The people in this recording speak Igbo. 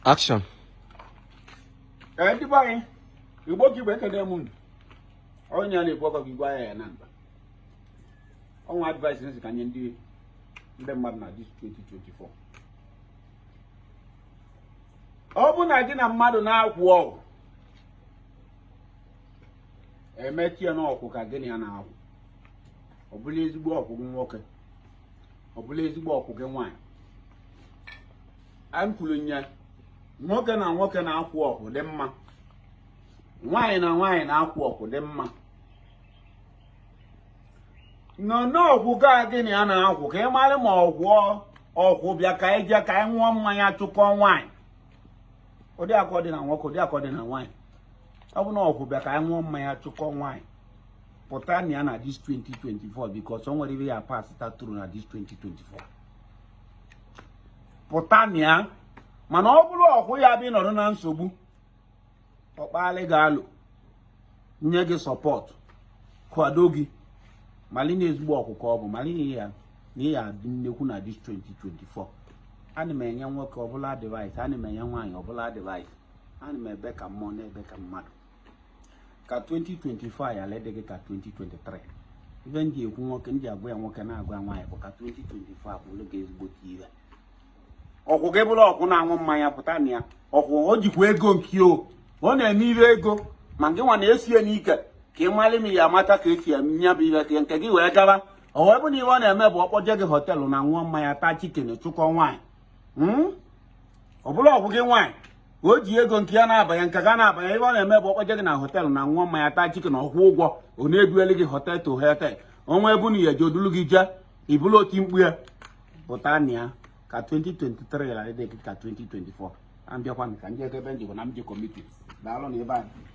Action. Ee, ndị be anyị, Igbo ka Igbo ekene m unu. Onye na-ekwu ọkọ gị gwa ya ya na mba. O nwe advice m sị ka m nye ndị ndị mmadụ na dis 2024. Ọ bụ na gị na mmadụ na-akwụ ọkwụ, emechie n'ọkwụ ka gị na ya na-akwụ. Ọ bụla ezigbo ọkwụ nwoke. ọ bụla ezigbo ọkwụ gị nwaanyị anyị kwuru nye nwoke na nwoke na-akwụ ọkwụ dị mma nwaanyị na nwaanyị na-akwụ ọkwụ dị mma nọ n'ọkwụ ka gị na ya na-akwụ ka ị mara ma ọkwụ ọkwụ bịa ka anyị jee ka anyị ṅụọ mmanya chụkọọ nwaanyị ụdị akọ dị na nwoke ụdị akọ dị na nwaanyị ọ bụ na ọkwụ bịa ka anyị ṅụọ mmanya chụkọọ nwaanyị pụta na ya na dis 2024 because o nwere ihe ya pass through na dis 2024 pụta na ya mana ọ bụrụ ọkwụ ya bụ ị nọrọ na nsogbu ọkpalị ga-alụ nye gị support kwado gị mali na ezigbo ọkwụ ka ọ bụ mali na ya na ya adị nnekwu na dis 2024 ana m enye nwoke ọbụla advice ana m enye nwaanyị ọbụla advice ana m ebe ka mmụọ na-ebe ka mmadụ ka 2025 ala dị gị ka 2023 ife ndị ekwu nwoke ndị agwa ya nwoke na-agwa ya nwaanyị bụ ka 2025 bụrụ gị ezigbote ihe ọkwụ gị bụrụ ọkwụ na-aṅụ mmanya pụta na ya ọkwụ o jikwa ego nke o ọ na-eme ihe ego ma gị nwa na-esie n'ike ka ị mara ma ị ya-amata ka esi eme ya bụ ihe ka nke gị wee gaba o wee bụ na ihe ọ na-eme bụ ọ kpọje gị hotel na ṅụọ mmanya taa chicken chụkọ nwaanyị hmm? ọ bụrụ ọkwụ gị nwaanyị o ji ego nke ya na-abanye nke gị na-abanye ihe ọ na-eme bụ ọ kpọje gị na hotel na ṅụọ mmanya taa chicken ọ kwụọ ụgwọ ọ na-ebueli gị hotel to hotel o nwe ebu na ya ji o dulu gị jee ị bụlụ otimkpu ya pụta na ya ka 2023 ghara ịdị ka 2024 na mbịakwa ka ndị ebe njikọ na mjikọ mitin daalụ na ebe anyị